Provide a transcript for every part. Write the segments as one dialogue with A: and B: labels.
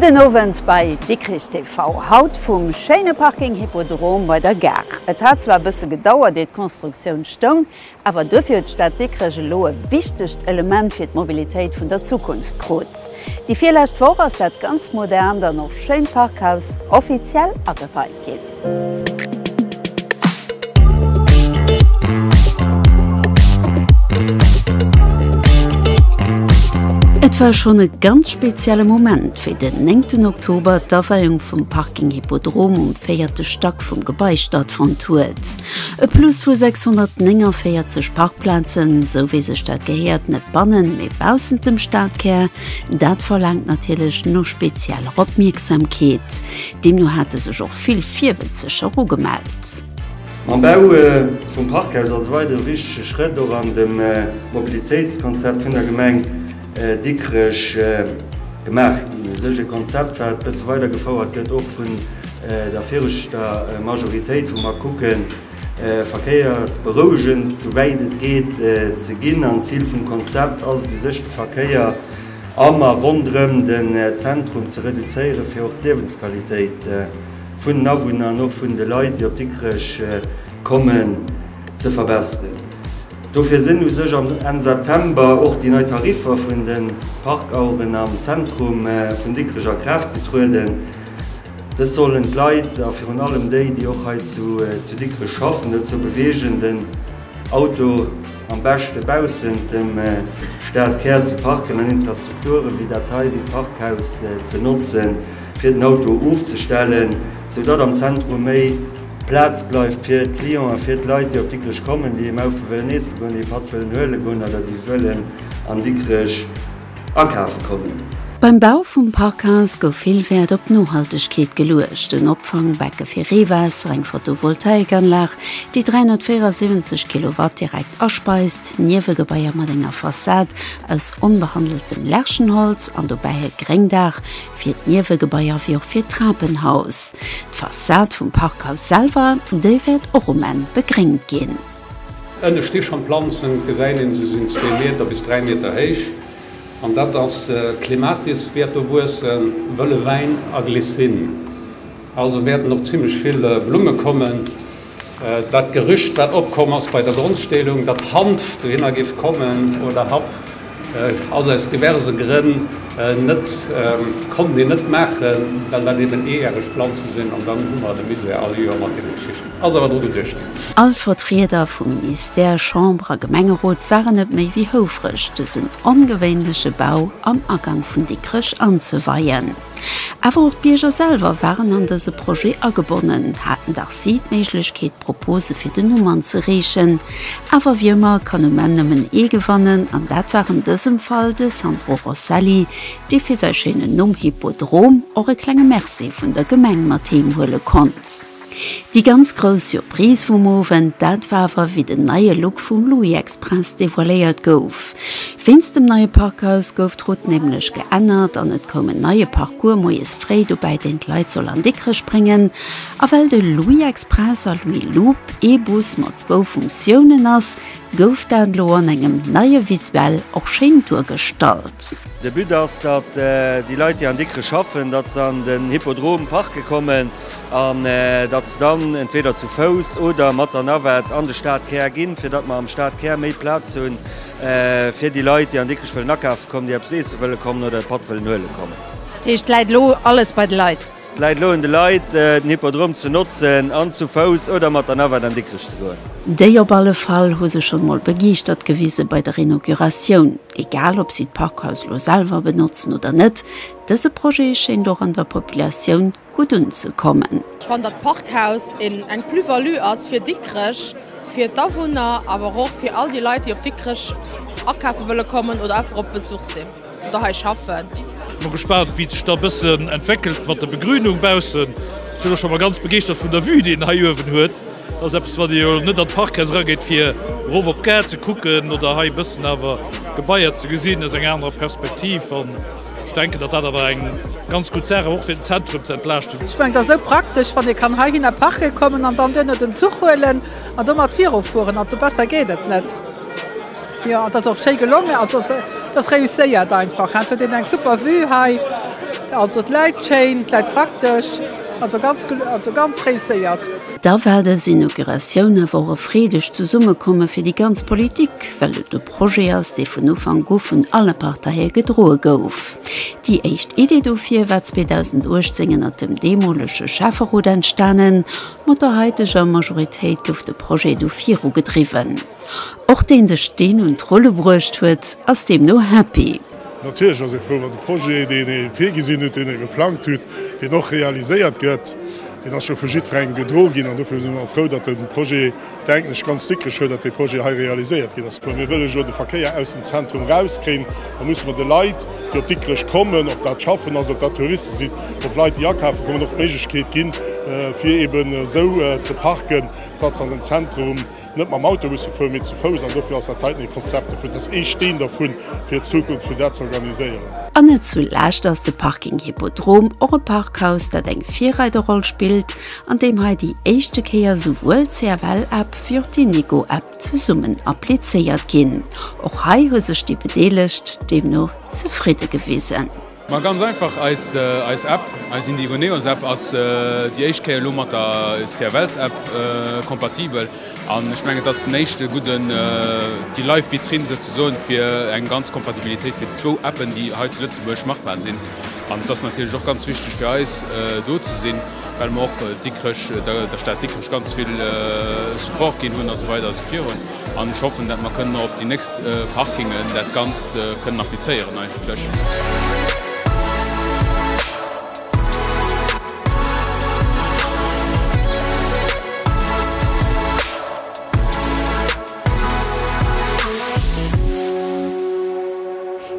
A: Gudden Owend bei Dikrich TV. Haut vum schéine Parking Hippodrom bei der Gare. Et hat zwar e bësse gedauert ier d'Constructioun stoung, Awer duerfir huet d'Stad Dikrech elo e wichtegt Element fir d'Mobilitéit vun der Zukunft krut. Déi virlescht Woch ass dat ganz modernt an och schéint Parkhaus offiziell ageweit ginn. Et war schonn e ganz spezielle Moment, wéi den néngten Oktober d'Aweiung vum Parking Hippodrom um véierte Stack vum Gebai stattfonnt huet. E Plus vu 649 Parkplazen, sou wéi sech dat gehéiert, net bannen, mee baussent dem Stadkär, dat verlaangt natierlech nach spezieller Opmierksamkeet. Deemno hate sech och vill Virwëtzeger ugemellt. Mam Bau
B: vum Parkhaus ass e weidere wichtege Schrëtt och an dem Mobilitéitskonzept vun der Gemeng. Dikrech gemaach ginn. E sëllege Konzept, wat bësse weider gefouert gëtt, och vun der viregter Majoritéit, wou mer kucken, verkéiersberouegend, sou wäit et geet, ze ginn. An d'Zil vum Konzept ass et u sech, de Verkéier am a ronderëm den Zentrum ze reduzéieren, fir och d'Liewensqualitéit vun den Awunner an och vun de Leit, déi op Dikrech kommen, ze verbesseren. Dofir sinn u sech am Enn September och déi nei Tariffer vun de Parkaueren am Zentrum vun Dikrech a Kraaft getrueden. Dës sollen d'Leit, a virun allem déi, déi och hei zu Dikrech schaffen, dozou beweegen, den Auto am beschte baussent dem Stadkär ze parken an Infrastrukture wéi dat hei, wéi d'Parkhaus, ze notze fir den Auto ofzestellen, sou datt am Zentrum méi. Plaz bleift fir d'Clienten a fir d'Leit, déi op Dikrech kommen, déi ee Maufel wëllen eesse goen, déi ee Patt wëllen huele goen oder déi wëllen an Dikrech akafe kommen. Beim Bau vum
A: Parkhaus gouf vill Wäert op d'Nohaltegkeet geluecht, en Opfangbecke fir Reewaasser, eng Photovoltaikanlag, déi 374 Kilowatt direkt aspeist, Niewegebaier mat enger Fassad aus onbehandeltem Lärchenholz an dobäi e Gréngdaach fir d'Niewegebaier wéi och fir d'Trapenhaus. D'Fassad vum Parkhaus selwer, déi wäert och um Enn begréngt ginn. Ënne sti
C: schonn d'Planzen, et gesäit een, se sinn zwee Meter bis dräi Meter héich. An dat ass d'Clematis wäert do wuessen, wëlle Wäin a Glycine. Also wäerten och zimmlech vill Blumme kommen. Dat Gerücht, wat opkomm ass bei der Grondsteelung, datt Hanf dohinner géif kommen, oder Happ, ass aus diverse Grënn net, konnten een net maachen, well dat eben eejäreg Planze sinn. An dann hu mer de Misär all Joer mat deene Geschichten. Ass awer dru geduecht. All Vertrieder
A: vu Ministère, Chamber a Gemengerot waren net méi wéi houfreg, dësen ongewéinleche Bau am Agank vun Dikrech anzeweien. Awer och d'Bierger selwer waren an dëse Projet agebonnen, haten dach si d'Méiglechkeet Propose fir den Numm anzereechen. Awer wéi ëmmer kann um Enn nëmmen ee gewannen, an dat war an dësem Fall de Sandro Rosselli, dee fir säi schéinen Numm Hippodrom och e klenge Merci vun der Gemeng mat heem huele konnt. Déi ganz grouss Surprise vum Owend, dat war awer wéi den neie Look vum Louis Express devoiléiert gouf. Wéinst dem neie Parkhaus gouf d'Route nämlech geännert an et koum en neie Parcours moies fréi dobäi, deen d'Leit soll an Dikrech bréngen. A well de Louis Express a Louis Loop ee Bus mat zwou Funktiounen ass, gouf dat elo an engem neie Visuel och schéin duergestallt. De But ass,
B: datt déi Leit, déi an Dikrech schaffen, datt se an den Hippodrom parke kommen. An datt se dann entweeder zu Fouss oder mat der Navette an de Stadkär ginn, fir datt mer am Stadkär méi Plaz hu fir déi Leit, déi an Dikrech wëllen akafe kommen, déi eppes eesse wëlle kommen oder e Patt wëllen huele kommen. Dat heescht, et läit elo
A: alles bei de Leit? Et läit elo un de Leit,
B: den Hippodrom ze notzen an zu Fouss oder mat der Navette an Dikrech ze goen. Déi op alle Fall
A: hu sech schonn emol begeeschtert gewise bei der Inauguratioun. Egal, ob si d'Parkhaus elo selwer benotzen oder net, dëse Projet schéint och an der Populatioun gutt unzekommen. Ech fannen, datt d'Parkhaus
D: eng Plus-value ass fir Dikrech, fir d'Awunner, awer och fir all déi Leit, déi op Dikrech akafe wëlle kommen oder einfach op Besuch sinn oder hei schaffen. Sinn mol gespaant
E: wéi et sech da e bëssen entwéckelt mat der Begrünung baussen. Sinn och scho mol ganz begeeschtert vun der Vue déi en hei uewen huet. Dat ass eppes wann ee jo net an d'Parkhaus erageet fir erof op d'Gare ze kucken oder hei e bëssen awer d'Gebaier ze gesinn aus enger anerer Perspektiv. Ech denken, datt dat awer eng ganz gutt Saach ass, och fir den Zentrum ze entlaaschten. Ech mengen, et ass esou praktesch,
F: wann ee kann heihinner parke kommen an dann duerno den Zuch huelen an domat virufueren. Also besser geet et net. Jo, an et ass och schéi gelongen. Also et ass réusséiert einfach. Et huet een eng super Vue hei. Also et läit schéin, et läit praktesch. Also ganz, also ganz réusséiert. Da war dës
A: Inauguratioun awer och e freedegt Zesummekomme fir déi ganz Politik, well et. Projet ass, dee vun Ufank u vun alle Parteie gedroe gouf. Déi éischt Idee dofir war 2018 ënnert dem deemolege Schäfferot entstanen. Mat der haiteger Majoritéit gouf de Projet du viru gedriwwen. Och deen de Steen un d'Rulle bruecht huet, ass deemno happy. Natierlech ass ee frou,
G: wann de Projet, deen ee virgesinn hutt, deen ee geplangt hutt, deen och realiséiert gëtt. Deen ass scho vu jiddwerengem gedro ginn an dofir si mer frou, datt de Projet, denken ech ganz dickreg huet, datt dee Projet hei realiséiert ginn ass. Wa mir wëllen elo de Verkéier aus dem Zentrum erauskriegen, da musse mir de Leit, déi op Dikrech kommen, ob dat schaffen ass, ob dat Touriste sinn, ob Leit, déi akafe kommen, och d'Méiglechkeet ginn, fir eeben esou ze parken, datt se an den Zentrum net mam Auto musse fueren, mee zu Fouss. An dofir ass dat heiten ee Konzept dovun. Dat ass ee Steen dervu fir d'Zukunft, fir dat ze organiséieren. An net zu
A: lescht ass de Parking Hippodrom och e Parkhaus, dat eng Virreiderroll spillt an deem hei déi éischte Kéier souwuel d'CFL-App wéi och déi Nego-App zesummen applizéiert ginn. Och hei hu sech déi Bedeelegt deemno zefridde gewisen. Ma ganz einfach,
H: eis App, eis Indigoneos-App ass déi éischt Kéier elo mat der CFLs-App kompatibel an ech mengen, et ass en éischte gudden Déi-Live-Vitrinn souzesoen fir eng ganz Kompatibilitéit fir zwou Appen, déi hei zu Lëtzebuerg machbar sinn. An et ass natierlech och ganz wichteg fir eis, do ze sinn, well mer och Dikrech, der Stad Dikrech ganz vill Support ginn hunn a sou weider a sou virun. An ech hoffen, datt mer kënnen och op déi nächst Parkingen dat Ganzt kënnen applizéieren eigentlech.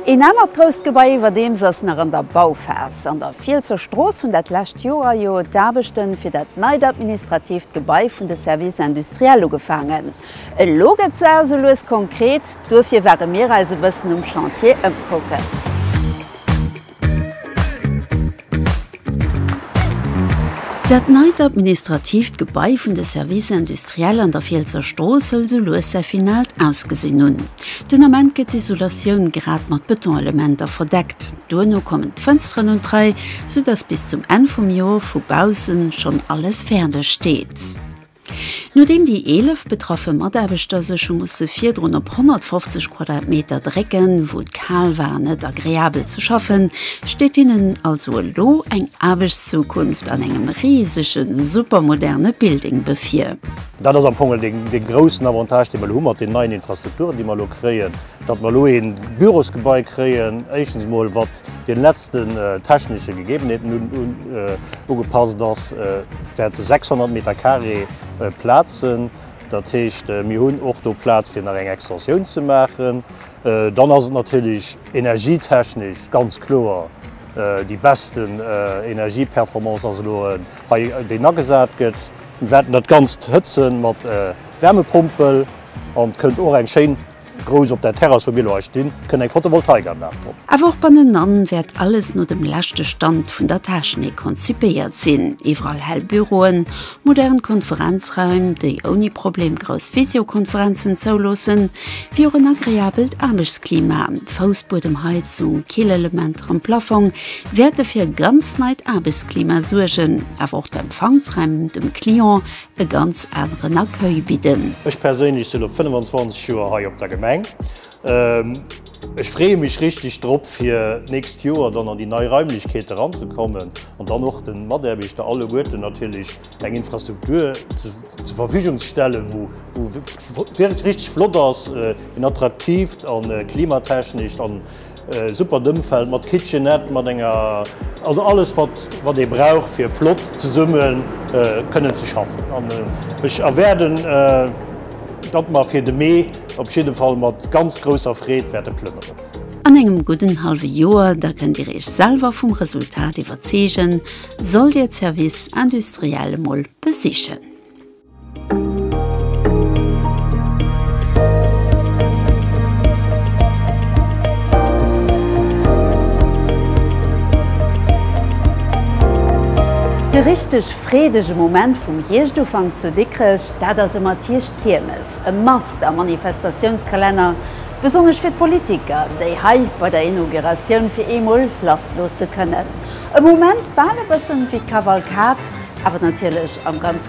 A: Een anert grousst Gebai iwwerdeems ass nach an der Bauphas. An der Fielsser Strooss hunn dat lescht Joer jo d'Aarbechte fir dat neit administratiivt Gebai vun de Services industriels ugefaangen. Elo gëtt d'Saach esou lues konkret. Duerfir ware mir eis e bëssen um Chantier ëmkucken. Dat neit administratiivt Gebai vun de Services industriels an der Fielsser Strooss soll sou lues säi finaalt Ausgesinn hunn. Den Ament gëtt d'Isolatioun grad mat Betonselementer verdeckt. Duerno kommen d'Fënsteren un d'Rei, sou dass bis zum Enn vum Joer vu baussen schonn alles fäerdeg steet. Nodeem déi 11 betraffe Mataarbechter sech hu musse virdrun op 150 Quadratmeter drécken, wou et kal war an net agreabel ze schaffen, steet hinnen also elo eng Aarbechtszukunft an engem risege supermoderne Building bevir. Dat ass am Fong
I: dee groussen Avantage, dee mer elo hu mat den neien Infrastrukturen, déi mer elo kréien, datt mer elo ee Bürosgebai kréien, éischtens emol, wat, den letzten technische Gegebenheeten ugepasst ass, dat si 600 Meter carré Plazen, dat heescht, mir hunn och do Plaz fir nach eng Extensioun ze maachen. Dann ass et natierlech energietechnesch ganz kloer, déi best Energieperformance ass elo hei, déi agesat gëtt. Mir wäerten dat Ganzt hëtze mat Wärmepompel an et kënnt och eng schéin. Grouss op der Terrass wou mir elo hei stinn, kënnt eng Photovoltaikanlag drop. Awer och bannenan
A: wäert alles no dem leschte Stand vun der Technik konzipéiert sinn, iwwerall hell Büroen, modern Konferenzraim, déi ouni Problem grouss Visiokonferenzen zouloossen, wéi och en agreabelt Aarbechtsklima. Foussbuedemheizung, Killelementer am Plafong wäerte fir e ganz neit Aarbechtsklima suergen, awer och d'Empfangsraim dem Client e ganz aneren Accueil bidden. Ech perséinlech sinn lo 25
I: Joer hei op der Gemeng. Ech freeë mech richteg drop fir d'nächst Joer dann an déi nei Raimlechkeete ranzekommen an dann och de Mataarbechter alleguerten natierlech eng Infrastruktur zur Verfügung ze stellen, wou richteg flott ass, en attraktiivt a klimatechnescht. Supert Ëmfeld mat Kitchenette, mat enger, also alles wat wat ee brauch fir flott zesumme kënnen ze schaffen. An ech erwäerden, datt mer fir de Mee op jidde Fall mat ganz grousser Freed wäerte plënneren. An engem gudden
A: hallwe Joer, da kënnt Dir Iech selwer vum Resultat iwwerzeegen, sollt Dir d'Service industriel emol besichen. De richteg freedege Moment vum Hierscht-Ufank zu Dikrech, dat ass ëmmer d'Hierscht-Kiermes, e must am Manifestatiounskalenner, besonnesch fir d'Politiker, déi hei bei der Inauguratioun fir eemol lass loosse kënnen. E Moment bal e bëssen wéi d'Kavalkad, awer natierlech am ganz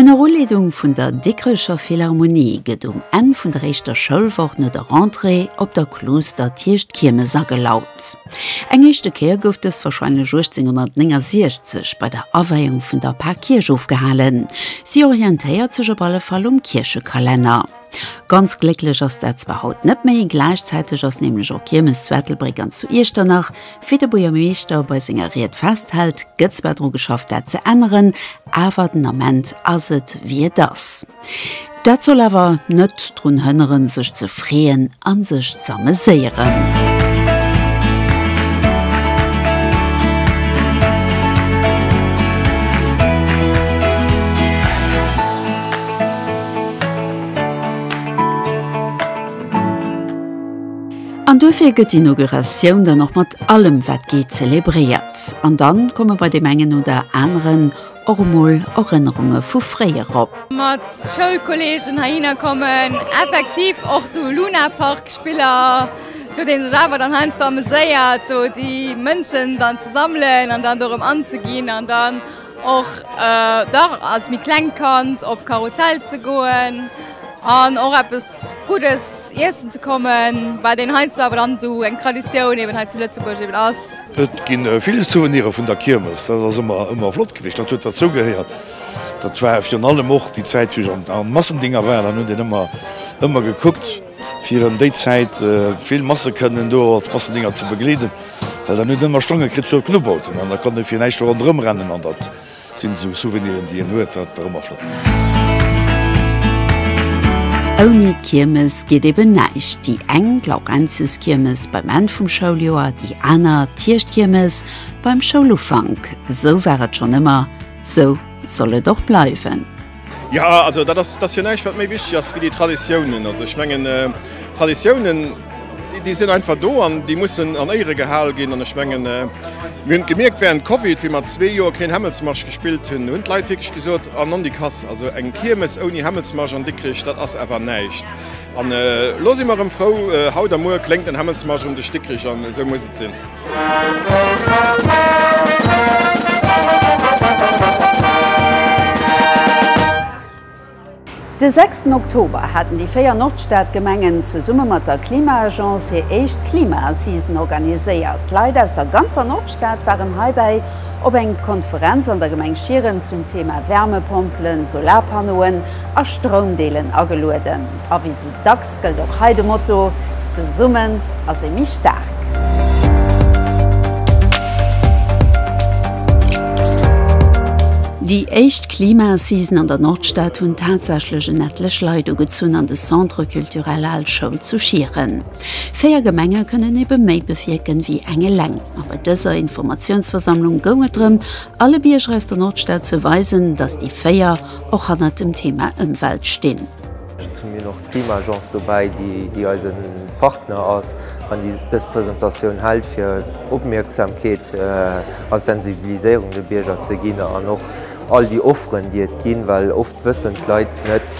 A: Ënner Uleedung vun der Dikrecher Philharmonie gëtt um Enn vun der éischter Schoulwoch no der Rentrée op der Klooster d'Hierschtkiermes agelaut. Eng éischte Kéier gouf dës warscheinlech 1869 bei der Aweiung vun der Par Kierch ofgehalen. Si orientéiert sech op alle Fall um Kierchekalenner. Ganz glécklech ass dat zwar haut net méi, gläichzäiteg ass nämlech och Kiermes zu Ettelbréck an zu Iechternach. Wéi de Buergermeeschter bei senger Ried festhält, gëtt zwar dru geschafft dat ze änneren, awer den Ament ass et wéi et ass. Dat soll awer net drun hënneren sech ze freeën a sech z'ameséieren. An duerfir gëtt d'Inauguratioun dann och mat allem wat geet zelebréiert. An dann komme bei deem engen oder aneren och emol Erënnerunge vu fréier op. Mat
J: Schoulkolleegen heihinner kommen, effektiv och esou Lunapark-Spiller, wou ee sech awer dann heiansdo ameséiert do déi Mënzen dann ze sammelen an dann dorëm anzeginn an dann, Och dach als méi klengt Kand op Karussell ze goen an och eppes Guddes iessen ze kommen, wat een heiansdo awer dann esou eng Traditioun eben hei zu Lëtzebuerg eben ass. Et gi vill
K: Souvenire vun der Kiermes, dat ass ëmmer flott gewiescht, dat huet derzou gehéiert. Dat war virun allem och déi Zäit, wéi ech am Massendinger war, dann huet een ëmmer gekuckt, fir ëm déi Zäit vill Masse kënnen do als Massendénger ze begleeden, well dann huet en ëmmer Stonge kritt zur Knubbelten an da konnt e fir näischt do ronderëm rennen an dat sinn esou Souveniren déi en huet, dat war ëmmer flott.
A: Ouni d'Kiermes geet eben näischt, déi eng d'Laurentiuskiermes beim Enn vum Schouljoer, déi aner d'Hierschtkiermes beim Schoulufank. Esou war et schonn ëmmer, esou soll et och bleiwen. Jo, also
L: dat ass jo näischt wat méi wichteg ass wéi déi Traditiounen. Also ech mengen Traditiounen déi sinn einfach do an déi mussen an Éiere gehal ginn. An ech mengen mir hunn et gemierkt während Covid, wéi mer zwee Joer keen Hämmelsmarsch gespillt hunn, hunn d'Leit wierklech gesot, an an déi Kass. Also eng Kiermes ouni Hämmelsmarsch an Dikrech, dat ass awer näischt. An elo si mer erëm frou, haut a muer kléngt den Hämmelsmarsch ëm de Stickrich an esou muss et sinn.
A: De sechsten Oktober haten déi véier Nordstadgemengen zesumme mat der Klima-Agence hir éischt Klima-Assisen organiséiert. D'Leit aus der ganzer Nordstad waren heibäi op eng Konferenz an der Gemeng Schieren zum Thema Wärmepompelen, Solarpannoen a Stroumdeelen agelueden. A wéi sou dacks Et gëllt och hei de Motto, Zesummen ass ee méi staark! Déi éischt Klimassisen an der Nordstad hunn tatsächlech en ettlech Leit ugezunn an de Centre Culturel Al Schoul zu Schieren. Véier Gemenge kënnen ebe méi bewierken, wéi eng eleng. A bei dëser Informatiounsversammlung goung et drëm, alle Bierger aus der Nordstad ze weisen, datt déi véier och hannert dem Thema Ëmwelt stinn. Et hunn mir nach
M: d'Klimaagence dobäi, déi eise Partner ass an déi dës Presentatioun hält, fir Opmierksamkeet a Sensibiliséierung de Bierger ze ginn an och all déi Offeren, déi et ginn, well oft wëssen d'Leit net,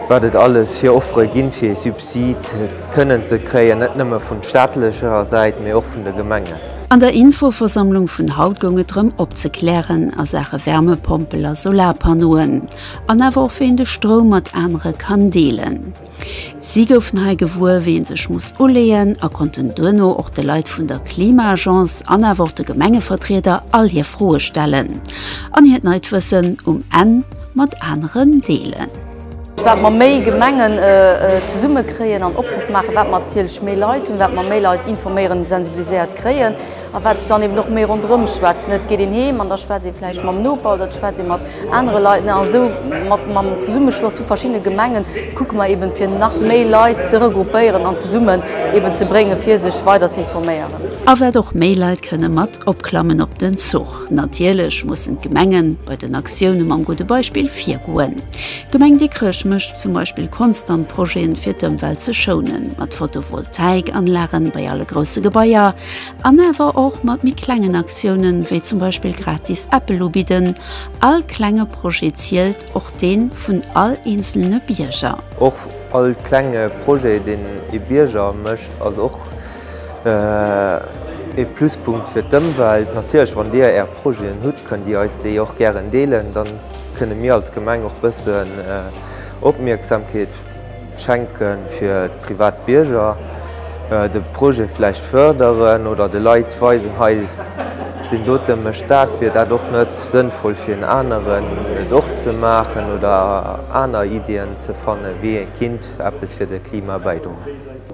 M: wat et alles fir Offere ginn, fir ee Subsid kënnen ze kréien, net nëmme vun staatlecher Säit, mee och vun de Gemengen. An der
A: Infoversammlung vun haut goung et drëm opzeklären a Saache Wärmepompel a Solarpannoen. an awer och wéi een de Stroum mat anere kann deelen. Si goufen hei gewuer, wéi ee sech muss uleeën a konnten duerno och de Leit vun der Klima-Agence an awer och de Gemengevertrieder all hir Froe stellen an hiert neit Wëssen um Enn mat aneren deelen. Wat
N: mer méi Gemengen zesummekréien an Opruff maachen, wat mer natierlech méi Leit hunn, wat mer méi Leit informéieren, sensibiliséiert kréien. A wat ech dann eben och méi ronderëm schwätzen, et geet een heem an da schwätzt ee vläicht mam Noper oder et schwätzt ee mat anere Leit. A sou mat mam Zesummeschloss vu verschiddene Gemengen kucke mer eben, fir nach méi Leit ze regroupéieren an zesummen eben ze bréngen, fir sech weider ze informéieren. A wat och méi
A: Leit kënne mat opklammen op den Zuch. Natierlech mussen d'Gemenge bei den Aktioune mam gudde Beispill virgoen. D'Gemeng Dikrech mécht zum Beispill konstant Projeten, fir d'Ëmwelt ze schounen, mat Photovoltaikanlagen bei alle grousse Gebaier, An awer och mat méi klengen Aktiounen, wéi zum Beispill gratis Äppel ubidden. All klenge Projet zielt, och dee vun all eenzelne Bierger. Och all
M: klenge Projet, deen ee Bierger mécht, ass och ee Pluspunkt fir d'Ëmwelt. Natierlech, wann Dir Är Projeten hutt, kënnt Dir eis déi och gären deelen. Dann kënne mir als Gemeng och bëssen Opmierksamkeet Schenke fir privat Bierger, de Projet vläicht fërderen oder de Leit weisen, hei deen dote mécht dat, wier dat och net sënnvoll fir en aneren et och ze maachen oder aner Iddien ze fannen, wéi ee kinnt eppes fir de Klima bäidroen.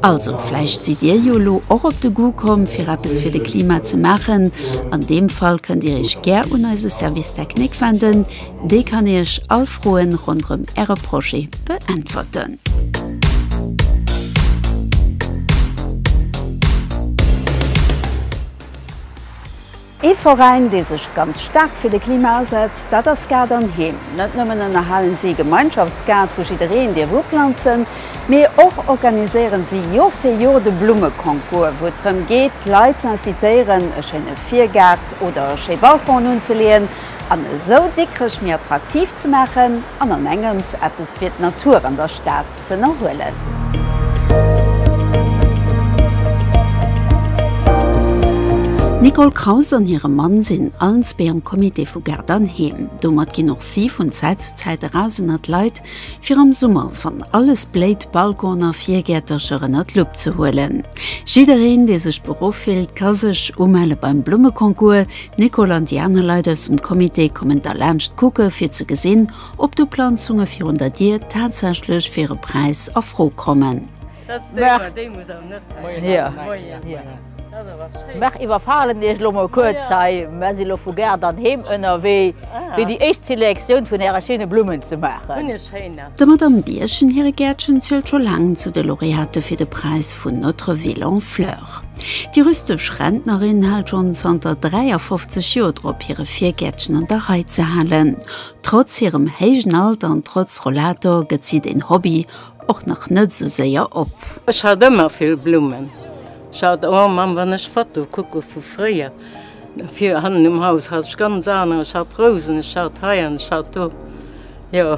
M: Also
A: vläicht sidd Dir jo elo och op de Goût komm fir eppes fir de Klima ze maachen. An deem Fall kënnt Dir Iech gär un eise Service technique wenden. Déi kann Iech all Froen ronderëm Äre Projet beäntwerten. Ee Veräin, dee sech ganz staark fir de Klima asetzt, dat ass Gaart an Heem. Net nëmmen ënnerhalen si e Gemeinschaftsgaart, wou jiddereen dierf uplanzen, mee och organiséieren si Jor fir Jor de Blummeconcours, wou et drëm geet, d'Leit z'incitéieren, e schéine Virgaart oder e schéi Balcon unzeleeën. an esou Dikrech méi attraktiv ze maachen an an engems eppes fir d'Natur an der Stad z'ënnerhuelen. D'Nicole Kraus an hire Mann sinn Allensbee am Comité vu Gaart an Heem. Domat ginn och si vun Zäit zu Zäit eraus ënner d'Leit, fir am Summer, wann alles bléit, Balconen a Virgäertercher ënner d'Lupp ze huelen. Jiddereen, dee sech beruff fillt, ka sech umelle beim Blummeconcours. D'Nicole an déi aner Leit aus dem Comité kommen da laanscht kucke fir ze gesinn, ob d'Uplanzunge virun der Dier tatsächlech fir e Präis a Fro kommen.
O: Mech iwwerfalen Iech elo mol kuerz hei, mer si lo vu Gare dann heem ënnerwee fir déi éischt Selektioun vun Äre schéine Blummen ze maachen. Der Madamm
A: Biergen hire Gäertchen zielt scho laang zu de Laureate fir de Präis vun Notre Ville en Fleurs. Bauer. Déi rüstesch Rentnerin hält schonn zanter 53 Joer drop, hire Virgäertchen an der Rei ze halen. Trotz hirem héijen Alter an trotz Rollator gëtt si den Hobby och nach net esou séier op. Ech hat ëmmer
P: vill Blummen. Ech hat, oh Mamm, wann ech Fotoe kucke vu fréier, fir hannen um Haus hat ech ganz aner, ech hat Rousen, ech hat hei an ech hat do, jo.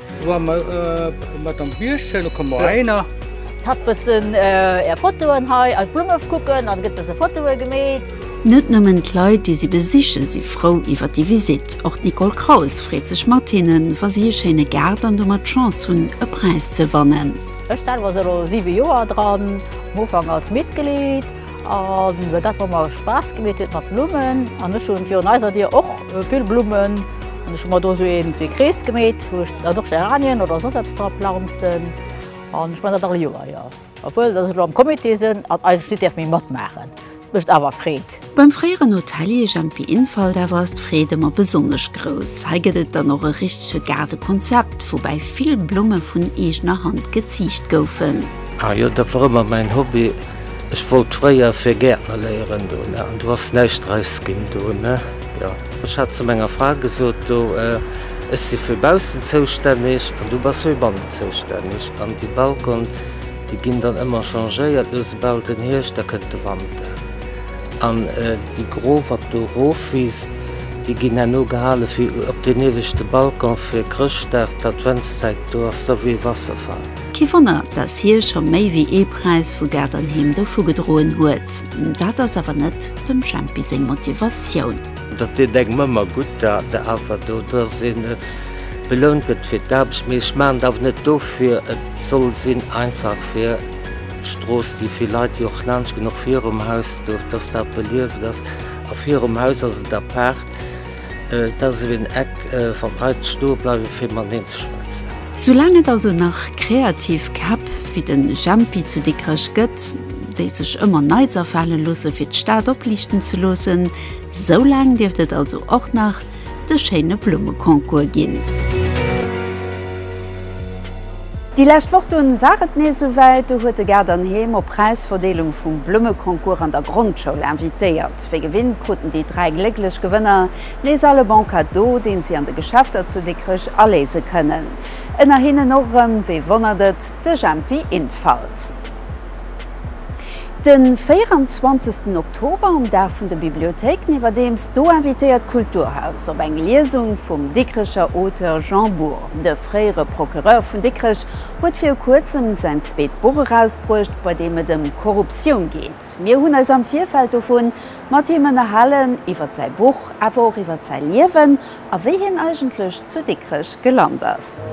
Q: Wa mer mat am Bierg sinn, da komme mer heihinner. Hatt bëssen
O: är Fotoen hei an d'Blumme kucken an gëtt bësse Fotoe gemeet. Net nëmmen
A: d'Leit, déi si besiche si frou iwwer déi Visitt. Och d'Nicole Kraus freet sech mat hinnen, wa si e schéine Gaart an domat d'Chance hunn, e Präis ze wannen. Ech selwer si elo
O: siwe Joer dran, um Ufank als Mitglied. An dat wat mer Spaass gemeet huet mat Blummen, an ech hunn virun eiser Dier och vill Blummen, an ech hu mer do esou een esou ee Krees gemeet wou ech dann och Geranien oder soss eppes dra planzen, an ech man dat all Joer, jo obwuel dass ech elo am Comité sënn an eigentlech net däerf méi matmaachen. Et mécht awer Freed. Beim fréieren
A: Hotelier Jempi Infalt awer ass d'Freed ëmmer besonnesch grouss. Hei gëtt et dann och e richtege Gaardekonzept, woubäi vill Blumme vun eegener Hand geziicht goufen. Ah jo, dat wor
R: ëmmer mäin Hobby. Ech wollt fréier fir Gäertner léieren do, ne, an do ass näischt draus ginn do, ne, jo. Ech hat zu menger Fra gesot do, ech si fir baussen zoustänneg an du bass fir bannen zoustänneg an déi Balcon, déi ginn dann ëmmer changéiert, lo se bal den Hierscht, da kënnt de Wanter an déi gro wat do rofwiisst, déi ginn herno gehale fir op deen ieweschte Balcon fir Chrëschtdag, d'Adventszäit do ass da wéi e Wasserfall. Kee Wonner, dass
A: hie scho méi wéi ee Präis vu Gaart an Heem dovu gedroen huet. Dat ass awer net dem Jempi seng Motivatioun. Dat deet engem
R: ëmmer gutt, dat awer do, dass een belount gëtt fir d'Aarbecht. Mee ech maachen et awer net dofir. Et soll sinn einfach fir d'Strooss, déi vill Leit, déi och laanscht ginn, och virum Haus do, dass dat belieft ass. A virum Haus ass et apaart. Dat ass esou een Eck wann d'Leit stoe bleiwe fir mateneen ze schwätzen. Soulaang et also
A: nach kreativ Käpp wéi den Jempi zu Dikrech gëtt, déi sech ëmmer Neits afale loosse fir d'Stad opliichten ze loossen, soulaang dierft et also och nach de schéine Blummeconcours ginn. Déi lescht Woch dunn war et nees esouwäit, do huet de Gaart an Heem op Präisverdeelung vum Blummeconcours an der Grondschoul invitéiert. Wéi gewinnt kruten déi 3 glécklech Gewënner nees all e Bon Cadeau, deen si an de Geschäfter zu Dikrech aléise kënnen. Ënner hinnen och erëm, wee wonnert et, de Jempi Infalt. Den 24 ten Oktober, um Dag vun de Bibliothéiken, iwwerdeems do invitéiert d'Kulturhaus op eng Liesung vum Dikrecher Auteur Jean Bour. De fréiere Procureur vun Dikrech huet viru kuerzem säin zweet Buch erausbruecht, bei deem et ëm Korruptioun geet. Projekt. Mir hunn eis am Virfeld dovun mat him ënnerhalen, iwwert säi Buch, awer och iwwert säi Liewen a wéi hien eigentlech zu Dikrech gelant ass.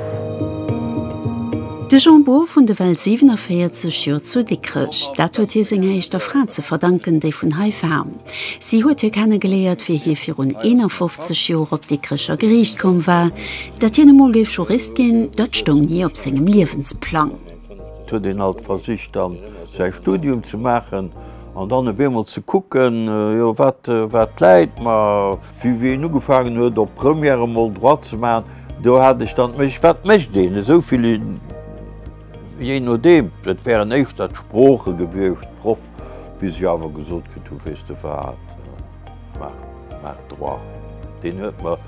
A: De Jean Bour vun de well 47 Joer zu Dikrech. Dat huet hie senger éischter Fra ze verdanken, déi vun hei war. Si huet hie kennegeléiert, wéi hie virun 51 Joer op d'Dikrecher Geriicht komm war. Dat hien emol géif Jurist ginn, dat stoung ni op sengem Liewensplang. Et huet een
S: alt versicht, dann säi Studium ze maachen an dann op eemol ze kucken, jo, wat, wat läit mer. Wéi een ugefaangen huet, op Première emol Droit ze maachen, do hat ech dann d'Méich, wat mécht een esou vill, jee nodeem, et wären éischter d'Sprooche gewiescht, Proff, bis ech awer gesot kritt hu, weess de wat, maach, maach Droit. Deen huet mer.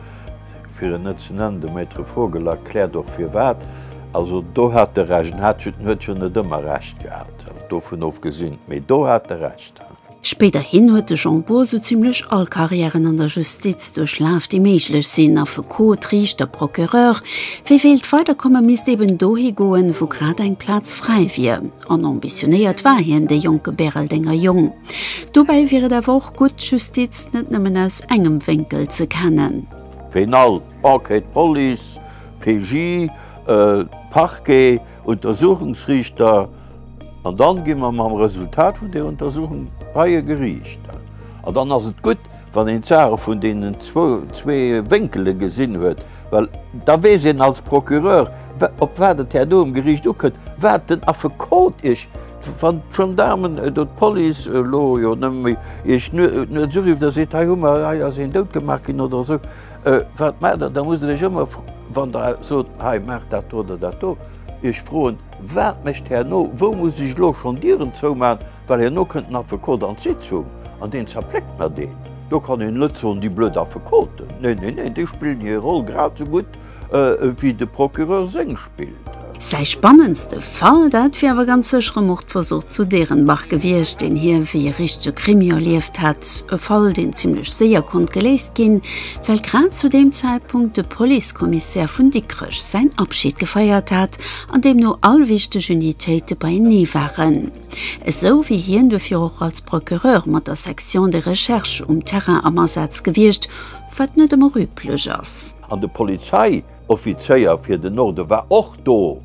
S: fir en net ze nennen, de Maître Vogel erkläert och firwat. Also do hat e Recht, en hat jo, en huet jo net ëmmer Recht gehat, dovun ofgesinn, mee do hat e Recht. Spéiderhin
A: huet de Jean Bour sou zimlech all Carrièren an der Justiz duerchlaf, déi méiglech sinn, Affekot, Riichter, Procureur. Wie wéilt weiderkomme misst eben dohi goen, wou grad eng Plaz fräi wier. An ambitionéiert war hien, dee jonke Bäreldenger Jong. Dobäi wier et awer och gutt, d'Justiz net nëmmen aus engem Wénkel ze kennen. Pénal,
S: Enquête, Police, PJ, Parquet, Untersuchungsriichter, an dann gi mer mam Resultat vun der Untersuchung bei e Geriicht. An dann ass et gutt. Wann een d'Saache vun deenen zwee Wénkele gesinn huet, well da weess een als Procureur, op wat et här do um Geriicht ukënnt, wat den Affekot Iech, wann d'Gendaarmen oder d'Police elo jo nëmme méi, Iech nuets urifft a seet, hei hu mer, hei ass een dout gemaach ginn oder esou, wat maacht Der? Da musst Der Iech ëmmer, wann Der sot, hei maacht dat do oder dat do, Iech froen, wat mécht herno, wou muss ech elo schonn Dieren zoumachen? Well herno kënnt den Affekot an d'Sitzung an deen zerpléckt mer deen. Do kann een net soen, déi blöd Affekoten. Nee, nee, nee, déi spillen hir Roll grad esou gutt wéi de Procureur seng spillt. Säi spannendste
A: Fall, dat wier awer ganz sécher e Mordversuch zu Derenbach gewiescht, deen hie wéi e richtege Krimi erlieft hätt. E Fall, deen zimlech séier konnt geléist ginn, well grad zu deem Zäitpunkt de Policekommissär vun Dikrech säin Abschid gefeiert hat an deemno all wichteg Unitéite beienee waren. Esou wier hien duerfir och als Procureur mat der Section de Recherche um Terrain am Asaz gewiescht, wat net ëmmer üblech ass. An de
S: Polizeioffizéier fir den Norde war och do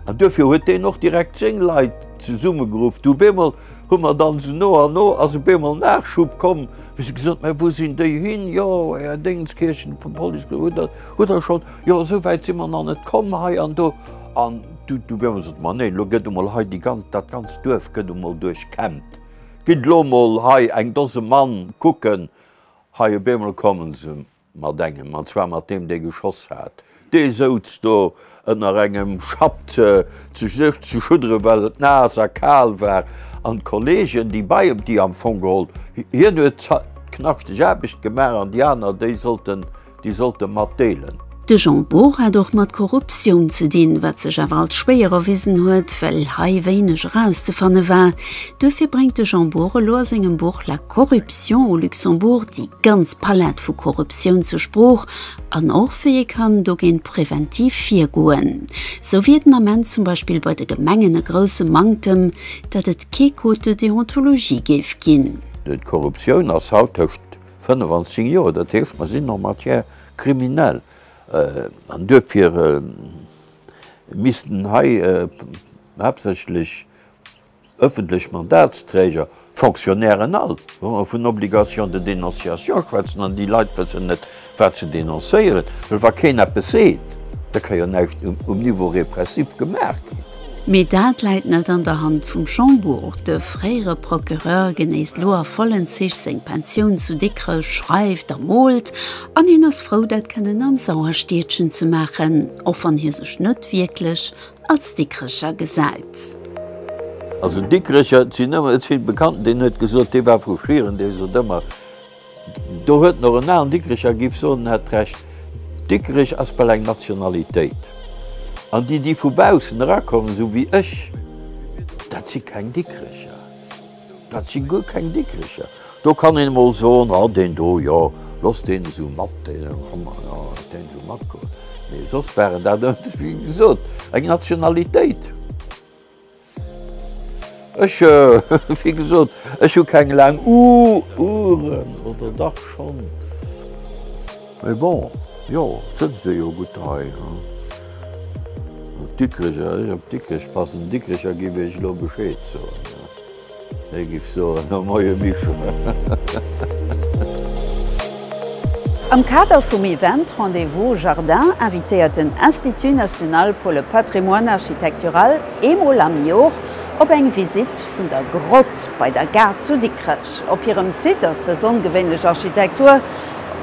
S: an duerfir huet deen och direkt seng Leit zesummegeruff. Du, beemol hu mer dann se no an no, ass e beemol Nachschub komm, wéi se gesot, Mä wou sinn déi hin? Jo, Här Déngenskirchen vum Police, hutt Der schonn. Jo, esou wäit si mer nach net komm hei an do. An du Biermel sot, Ma nee, elo gëtt emol hei déi ganz, dat ganzt Duerf gëtt emol duerchkämmt. Gitt elo emol hei eng Dose Mann kucken. Hei e Biermel komme se mat engem, an zwar mat deem, dee geschoss hat. Dee souz do ënner engem Schapp ze ze schudderen, well et naass a kal war. An d'Kollegen, déi bei em, déi am Fong geholl, hien huet d'knaschteg Aarbecht gemaach an déi aner, déi sollten déi sollt e mat deelen. De
A: Jean Bour hat och mat Korruptioun ze dinn, wat sech awer als schwéier erwisen huet, well hei wéineg erauszefanne war. Duerfir bréngt de Jean Bour elo a sengem Buch La corruption au Luxembourg déi ganz Palett vu Korruptioun zur Sprooch an och wéi ee kann dogéint preventiv virgoen. Sou wier den Ament zum Beispill bei de Gemengen e grousse Manktem, datt et kee Code de déontologie géif ginn. D'Korruptioun
S: ass haut tëscht 25 Joer, dat heescht mer sinn en matière criminelle. An duerfir missten hei haaptsächlech ëffentlech Mandatsträger, d'Fonctionnairen all, vun Obligation de dénonciation schwätzen. An déi Leit wëssen net, wat se denoncéieren. Well wa keen eppes seet, da ka jo näischt um Niveau répressif gemaach ginn. Mee dat
A: läit net an der Hand vum Jean Bour. De fréiere Procureur genéisst lo a vollen Zich seng Pensioun zu Dikrech, schreift a moolt, an hien ass frou dat kënnen am Sauerstiedchen ze maachen, och wann hie sech net wierklech als Dikrecher gesäit. Also
S: Dikrecher, et sinn ëmmer, et si bekannten, deen huet gesot, dee war vu Schieren, dee sot ëmmer, Do huet nach en alen Dikricher giff soen, en hätt d'Recht. Dikrich ass bal eng Nationalitéit. An déi, déi vu baussen erakommen, esou wéi ech, dat si keng Dikricher. Dat si guer keng Dikricher. Do kann een emol soen, ah deen do, jo, looss deen esou mat, deen looss deen esou matgoen. Mee soss waren dat, wéi gesot, eng Nationalitéit. Ech, wéi gesot, ech hu keng laang Oueren, oder dach schonn. Mee bon, jo, et sëtzt ee jo gutt hei. Op Dikrech, ech op Dikrech passen, Dikrecher giff iech elo Bescheed soen. Hei giff soen, no Moie Mischungen.
A: Am Kader vum Event Rendez-vous Jardin invitéiert den Institut national pour le patrimoine architectural eemol am Jor op eng Visitt vun der Grott bei der Gare zu Dikrech. Op hirem Site ass dës ongewéinlech Architektur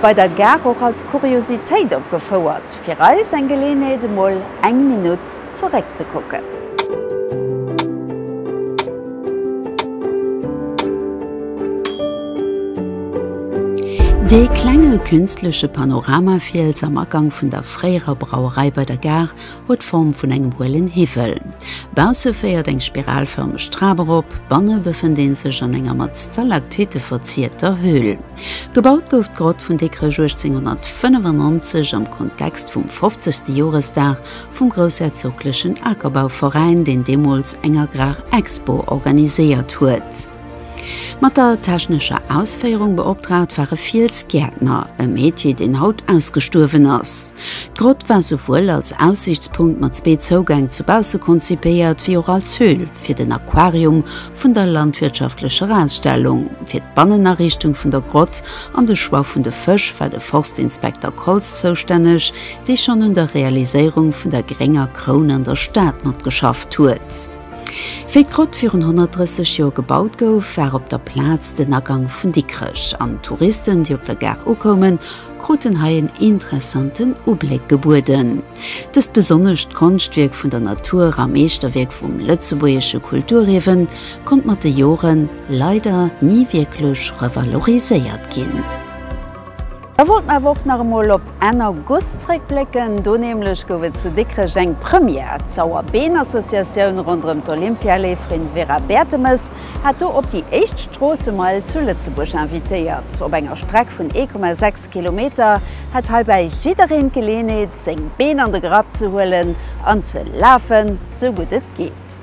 A: bei der Gare och als Kuriositéit opgefouert. Fir eis eng Geleeënheet emol eng Minutt zeréck ze kucken. Dee klenge künstleche Panoramafiels am Agank vun der fréierer Brauerei bei der Gare huet d'Form vun engem huelen Hiwwel. Bausse féiert eng spiralfërmeg Trap erop, banne befënnt ee sech an enger mat Stalaktitte verzierter Höhl. Gebaut gouf d'Grott vun Dikrech 1895 am Kontext vum 50. Joresdag vum groussherzoglechen Akerbauveräin, deen deemools eng Agrarexpo organiséiert huet. Mat der technescher Ausféierung beoptraagt war e Fiels Gäertner, e Metier, deen haut ausgestuerwen ass. D'Grott war souwuel als Aussiichtspunkt mat zwee Zougäng zu bausse konzipéiert, wéi och als Höhl fir den Aquarium, vun der landwirtschaftlecher Ausstellung, fir d'Bannenariichtung vun der Grott an de Choix vun de Fësch war de Forstinspekter Koltz zoustänneg, dee schonn un der Realiséierung vun der Grénger Kroun an der Stad matgeschafft huet. Wéi d'Grott virun 130 Joer gebaut gouf, war op der Plaz den Agang vun Dikrech, an d'Touristen, déi op der Gare ukoumen, kruten hei en interessanten Ubléck gebueden. Dëst besonnescht Konschtwierk vun der Natur a Meeschterwierk vum lëtzebuergesche Kulturierwe konnt mat de Jore leider ni wierklech revaloriséiert ginn. Da wollt mer awer och nach emol op Enn August zréckblécken. Do nämlech gouf et zu Dikrech eng Première, D'Sauerbeen-Associatioun ronderëm d'Olympialäferin Vera Bertemes hat do op déi éischt Stroossemeil zu Lëtzebuerg invitéiert. Op enger Streck vun 1,6. Kilometer hätt heibäi jiddereen d'Geleenheet, seng Been an de Grapp ze huelen an ze lafen, sou gutt et geet.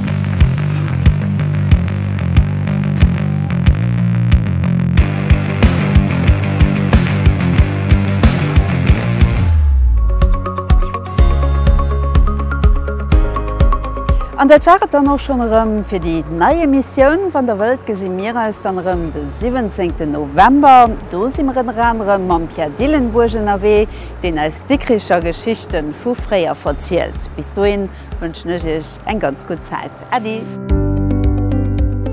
A: An dat war et dann och schonn erëm fir déi nei Emissioun. Wann der wëllt, gesi mir eis dann erëm de 17 November. Do si mer ënner anerem mam Pierre Dillenburg ënnerwee, deen eis Dikricher Geschichte vu fréier verzielt. Bis dohin wënschen ech Iech. eng ganz gutt Zäit. Äddi!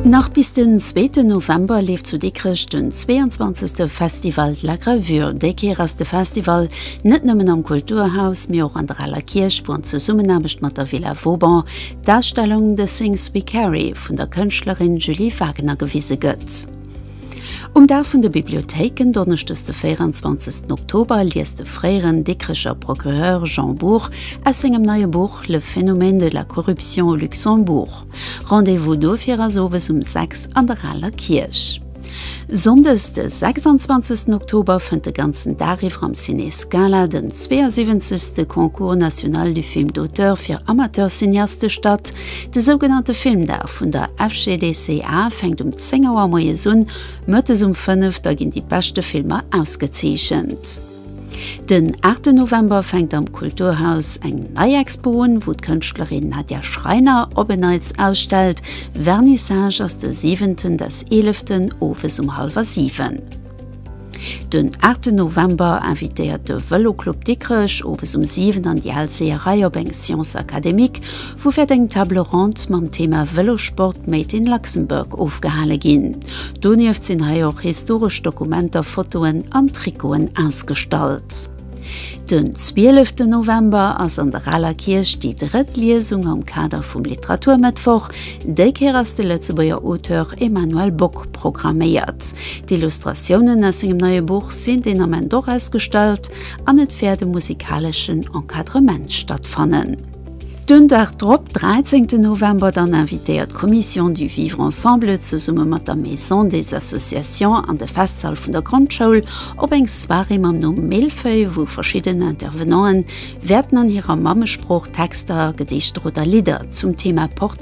A: Nach bis den zweeten November leeft zu Dikrech den 22. Festival de la Gravure. Déi Kéier ass de Festival net nëmmen am Kulturhaus, mee och an der Aler Kierch, wou an Zesummenaarbecht mat der Villa Vauban d'Ausstellung The Things We Carry vun der Kënschtlerin Julie Wagener gewise gëtt. Um Dag vun de Bibliothéiken, Donneschdes de 24 Oktober, liest de fréieren Dikrecher Procureur Jean Bour aus sengem neie Buch Le phénomène de la corruption au Luxembourg. Rendez-vous dofir ass owes um 6 an der Aler Kierch. Sonndes de 26 Oktober fënnt de ganzen Dag iwwer am Ciné Scala den 72. Concours national du film d'auteur fir Amateurcineaste statt, De sougenannte Filmdag vun der FGDSEA fänkt um 10 Auer moies un, mëttes um 5 da ginn déi beschte Filmer ausgezeechent. Den 8 November fänkt am Kulturhaus eng nei Expo un, wou d'Kënschtlerin Nadja Schreiner op en Neits ausstellt. Vernissage ass de 7 des 11 owes um hallwer 7. Den 8 November invitéiert de Vëloclub Dikrech owes um 7 an déi al Seeërei op eng Séance académique, wou wäert eng Table ronde mam Thema Vëlossport made in Luxembourg ofgehale ginn. Donieft sinn hei och historesch Dokumenter, Fotoen an Trikoten ausgestallt. Den 12 November ass an der Aler Kierch déi drëtt Liesung am Kader vum Literaturmëttwoch. Déi Kéier ass de Lëtzebuerger Auteur Emmanuel Bock programméiert. D'Illustratiounen aus sengem neie Buch sinn deen Ament och ausgestallt an et wäert e musikaleschen Encadrement stattfannen. Den Dag drop, dräizéngten November, dann invitéiert d'Commission du Vivre Ensemble zesumme mat der Maison des Associations an de Festsall vun der Grondschoul op eng Soirée mam Numm Mille-feuilles, wou verschidden Intervenanten wäerten an hirer Mammesprooch Texter, Gedichter oder Lidder zum Thema Portrait